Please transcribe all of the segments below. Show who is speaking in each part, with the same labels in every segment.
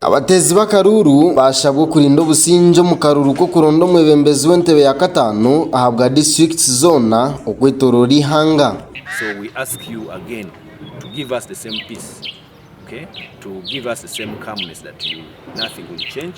Speaker 1: Abateezi b'akaruuru baashabwa okurinda obusingye omu karuuru k'okuronda omwebembezi w'entebe ya kataano ahabwa disiturikiti zoona okwetoroora eihanga. So we ask
Speaker 2: you again to give us the same peace, okay, to give us the same calmness that you nothing will change.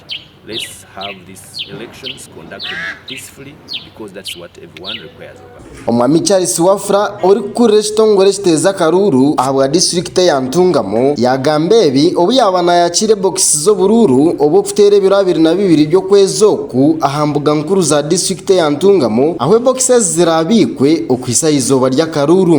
Speaker 2: Omwami Charles Wafula
Speaker 1: orikukurira ekitongore ekiteeza akaruuru ahabwa disiturikiti eya Ntungamo yaagamba ebi obu yaaba naayakiira ebokisi z'oburuuru obw'okuteera ebiro abiri na bibiri by'okwezi oku aha mbuga nkuru za disiturikiti eya Ntungamo ahu ebokisi ezi ziraabiikwe okuhitsya aha izooba ry'akaruuru.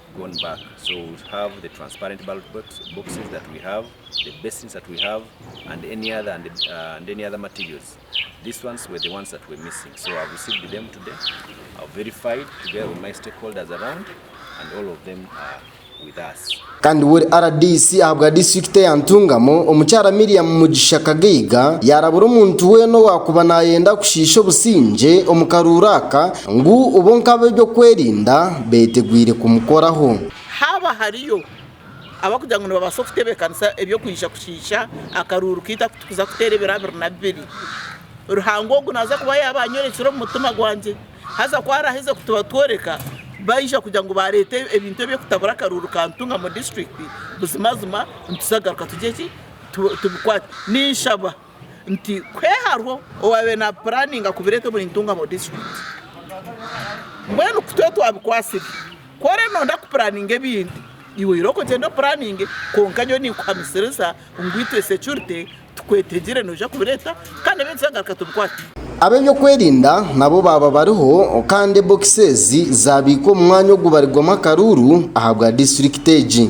Speaker 2: Kandi we ori
Speaker 1: rdc ahabwa disiturikiti eya Ntungamo, omukyara Miriam Mugisha Kagaiga, yaarabura omuntu weena owaakuba naayenda kushiisha obusingye omu karuuru aka, Ngu bonka ab'eby'okwerinda beetegwire kumukoraho. Haaba hariyo
Speaker 3: abakugira ngu nibabaasa kutebeekanisa eby'okwija kushiisha akaruuru kaitu aku turikuza kuteera ebiro abiri na bibiri, Ruhanga ogu naaza kuba yaaba anyorekire omu mutima gwangye, haza ku araaheeze kutubatworeka, baija kugira ngu baareeta ebintu eby'okutabura akaruuru ka Ntunga mu disiturikiti, buzimazima nituzagaruka tugye ki? Tubikwate. Ninshaba. nti kwe hariho owabaire napuraninga kubireeta omuri Ntungamo district mbwenu kutwe twabikwasire ku ori nonda kupuraninga ebintu iwe oyireho kugyenda opuraninge kwonka nyowe ninkuhamisiriza ngu itwe securite tukwetegire noija kubireeta kandi ebindi twagaruka tubikwate. Ab'ebyokwerinda
Speaker 1: nabo baaba bariho kandi bokisi ezi zaabiikwa omu mwanya ogubarirwamu akaruuru ahabwa district egi.